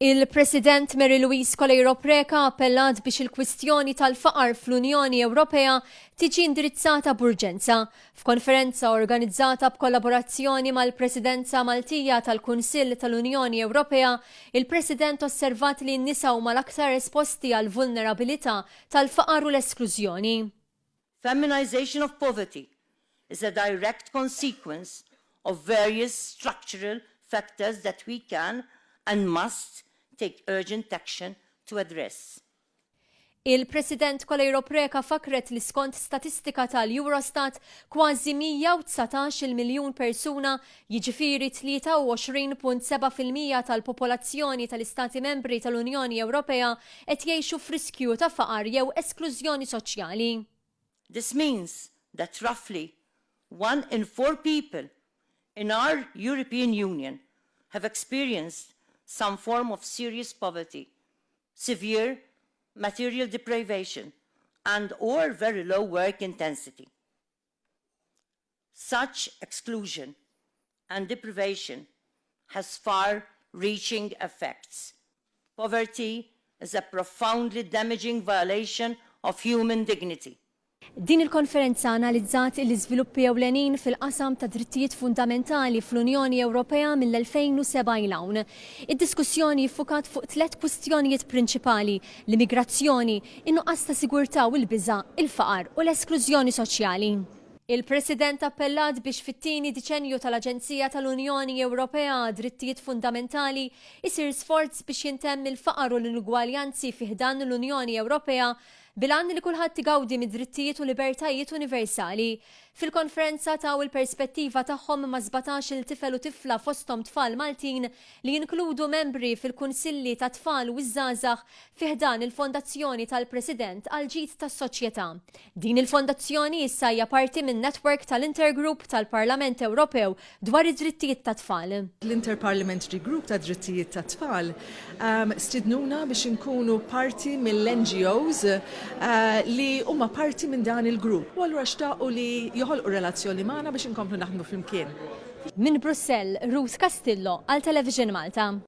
Il-President Mary Louise Coleiro Preca appellat biex il-kwistjoni tal-faqar fl-Unjoni Ewropea tiġi indirizzata b'urġenza f'konferenza organizzata b'kollaborazzjoni mal-Presidenza Maltija tal-Kunsill tal-Unjoni Ewropea. Il-President osservat li n-nisa huma l-aktar esposti għall-vulnerabilità tal-faqar u l-esklużjoni. Feminisation of poverty is a direct consequence of various structural factors that we can, and must, take urgent action to address. Il-President Coleiro Preca fakkret li skont statistika tal-Eurostat, kważi 119 il-miljun persuna jiġifieri 23.7 fil-mija tal-popolazzjoni tal-Istati Membri tal-Unjoni Ewropea qed jgħixu f'riskju ta' faqar jew esklużjoni soċjali. This means that roughly one in four people in our European Union have experienced some form of serious poverty, severe material deprivation and or very low work intensity. Such exclusion and deprivation has far reaching effects. Poverty is a profoundly damaging violation of human dignity. Din il-konferenza analizzat l-iżviluppi ewlenin fil-qasam tad-drittijiet fundamentali fl-Unjoni Ewropea mill-2007 'il hawn. Id-diskussjoni ffukat fuq tliet kwistjonijiet prinċipali, l-immigrazzjoni, in-nuqqas ta' sigurtà u l-biża', il-faqar u l-esklużjoni soċjali. Il-President appellat biex fit-tieni diċennju tal-Aġenzija tal-Unjoni Ewropea għad-Drittijiet Fundamentali jsir sforz biex jintemm il-faqar u l-inugwaljanzi fi ħdan l-Unjoni Ewropea bil-għan li kulħadd igawdi mid-drittijiet u libertajiet universali Fil-konferenza taw il-perspettiva tagħhom ma' sbatax-il tifel u tifla fosthom tfal Maltin li jinkludu membri fil-kunsilli tat-tfal u ż-żgħażagħ fi ħdan il-Fondazzjoni tal-President għall-Ġid tas-Soċjetà. Din il-fondazzjoni issa hija parti min-network tal-Intergroup tal-Parlament Ewropew dwar id-drittijiet tat-tfal. L-Interparliamentary Group tad-Drittijiet tat-Tfal stiednuna biex inkunu parti mill-NGOs li huma parti minn dan il-grupp u allura xtaqu li joħolqu relazzjoni magħna biex inkomplu naħdmu flimkien. Minn Brussell, Ruth Castillo għal Television Malta.